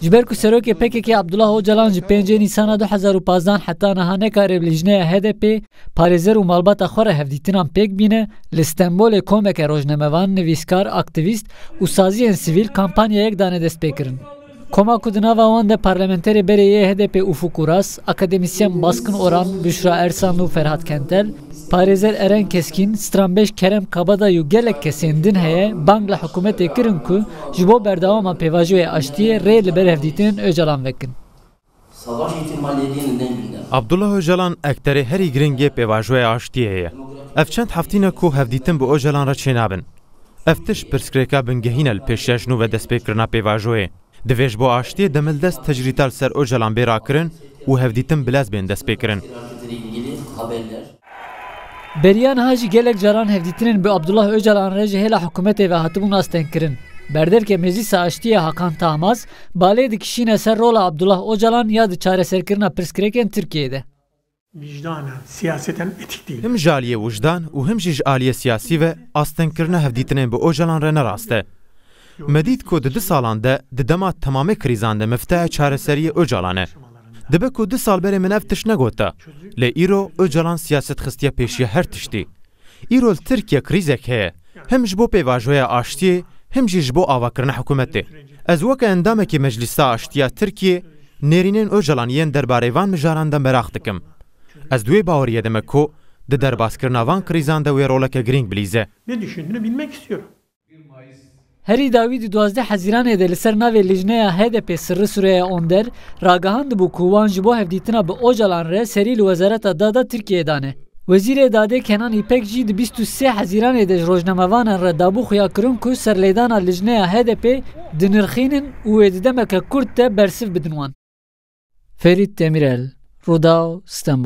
Ji ber ku serokê PKK'ê Abdullah Ocalan ji pêncê Nîsana du hezar û pazdeh heta niha nekariye bi lîjneya HDP'ê, parêzer û malbata xwe re hevdîtinan pêk bîne, li Stenbolê komeke rojnamevan, nivîskar, aktîvîst û saziyên sivîl kampanyayek dane destpêkirin. Koma ku di nava wan de parlamenterê berê yê HDP'ê Ufuk Uras, akademisyen Baskin Oran, Büşra Ersanlu, Ferhat Kentel, Parêzer Eren Keskîn, stranbêj Kerem Kabadayî û gelek kesên din heye bang li hikûmetê kirin ku ji bo berdewama pêvajoyê aştiyê rê li ber hevdîtinên Ocalan vekin. Abdullah Ocalan ekterê herî giringê pêvajoya aştiyê ye. Ev çend heftîn e ku hevdîtin bi Ocalan re çênabin. Ev tişt pirsgirêka bingehîn e li pêş ya jinûve destpêkirina pêvajoyê. Divê ji bo aştiyê demildest tecrîta li ser Ocalan bê rakirin û hevdîtin bi lez bên destpêkirin. Beriya niha jî gelek caran hevdîtinên bi Abdullah Ocalan re ji hêla hikûmetê ve hatibûn astengkirin. Berdevke Meclîsa Aştiyê Hakan Tahmaz balê dikişîne ser rola Abdullah Ocalan ya di çareserkirina pirsgirêkên Tirkiyeyê de. Wijdanan, siyaseten etîk dîl. Him ji aliyê wijdan û him jî ji aliyê siyasî ve astengkirina hevdîtinên bi Ocalan re ne rast e. Me dît ku di du salan de di dema temamê krîzan de miftehê çareseriyê Ocalan e. Dibe ku du sal berê min ev tişt negota, lê îro Ocalan siyaset xistiye pêşiya her tiştî. Îro li Tirkiye krîzek heye, him ji bo pêvajoya aştiyê him jî ji bo avakirina hikûmetê. Ez weke endamekî Meclîsa Aştiya Tirkiyê nêrînên Ocalan yên derbarê van mijaran de meraq dikim. Ez di wê baweriyê de me ku di derbaskirina van krîzan de wê roleke girîng bilîze. Herî dawî di duwazdeh Hezîranê de li ser navê Lijneya HDP'ê Sirri Sureya Onder ragihandibû ku wan ji bo hevdîtina bi Ocalan re serî li Wezareta Da da Tirkiyeyê dane. Wezîrê Dadê Kenan Îpek jî di bîst û sê Hezîranê de ji rojnamevanan re dabû xuyakirin ku serlêdana Lijneya HDP'ê dinirxînin û wê di demeke kurt de bersiv bidin wan. Ferît Demîrel, Rûdaw, Stenbol.